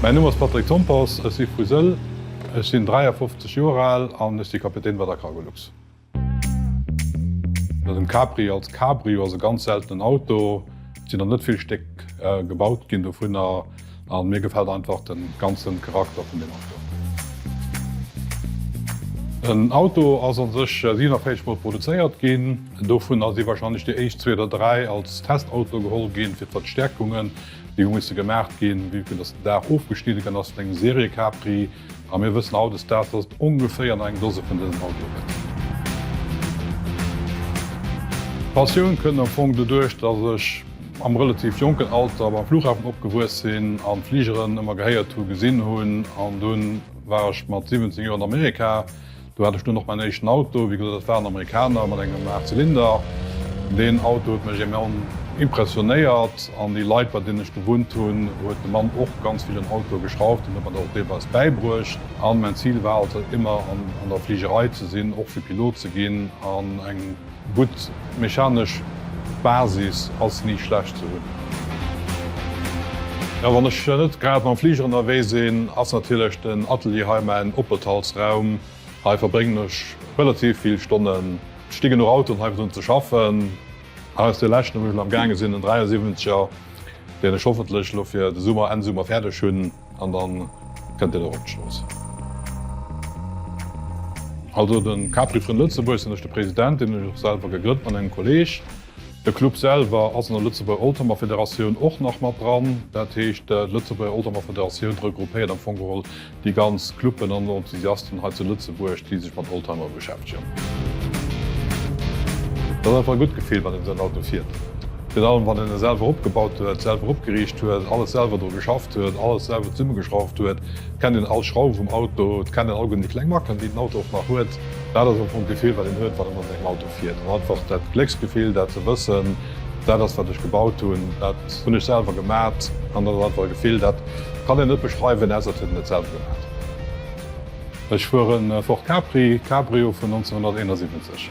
Mäin Numm ass Patrick Tompers, ech si vu Sëll. Ech sinn 53 Joer al an ech si Kapitän bei der Cargolux. Den Capri als Cabrio ass e ganz seltenen Auto. Et sinn nach net vill Stéck gebaut ginn dovunner. an mir gefällt einfach den ganzen Charakter vun dem Auto. Den Auto ass an sech 47 mol produzéiert ginn, dovun ass wahrscheinlech déi éischt zwee oder dräi als Testauto geholl ginn fir d'Verstäerkungen déi hu musse gemaacht ginn vue que dass den Daach ofgeschnidde gënn ass vun engem Serie Capri a mir wëssen haut des Daags dass et ongeféier nach eng Dose vun dësen Autoe gëtt. D'Passioun kënnt am Fong doduerch dass ech. am relativ jonken Alter beim Flughafen opgewuess sinn an Fligeren ëmmer gehéiert hunn, gesinn hunn an dunn war ech mat 17 Joer an Amerika. Do hat ech dunn och mäin éischten Auto, wéi gesot dat war en Amerikaner mat engem 8 Zylinder. Deen Auto huet mech enorm impressionéiert an déi Leit bei deenen ech gewunnt hunn, huet de Mann och ganz vill un Auto geschrauft an huet mer dat och deelweis bäibruecht. An mäin Zil war also ëmmer an der Fligerei ze sinn, och fir Pilot ze ginn an eng. Gutt mechanesch Basis ass ni schlecht ze hunn. Jo wann ech net grad mam Fliger ënnerwee sinn ass natierlech den Atelier hei mäin Opethaltsraum. Hei verbréngen ech relativ vill Stonnen. Et sti genuch Autoen hei fir drun ze schaffen. Hei ass dee leschten wou ech elo am gaange sinn, en 73er deen ech hoffentlech elo fir de Summer, Enn Summer fäerdeg hunn. An dann kënnt Dir dorop d'Schloss. Also de Capri Frënn Lëtzebuerg sinn ech de President, deen hun ech och selwer gegrënnt mat engem Kolleg. De Club selwer ass an der Lëtzebuerger Oldtimer Federatioun och nach mat dran. Dat heescht d'Lëtzebuerger Oldtimer Federatioun regruppéiert am Fong geholl déi ganz Cluben an Enthusiasten hei zu Lëtzebuerg, déi sech mat Oldtimer. beschäftegen. Et ass einfach e gutt Gefill, wann een esou en Auto fiert. Virun allem, wann een e selwer opgebaut huet, selwer opgeriicht huet, alles selwer dru geschafft huet, alles selwer zesummegeschrauft huet. Et kennt een all Schrauf vum Auto, et kennt een all gutt déi kleng Macken, déi den Auto och nach huet. Dat ass am Fong d'Gefill, wat een huet, wann een mat sengem Auto fiert. An einfach dat Glécksgefill, dat ze wëssen, dat ass, wat ech gebaut hunn, dat hunn ech selwer gemat. An dat ass einfach e Gefill, dat kann een net beschreiwen, ausser et huet een et selwer gemat. Ech fuer en Ford Capri Cabrio vun 1971.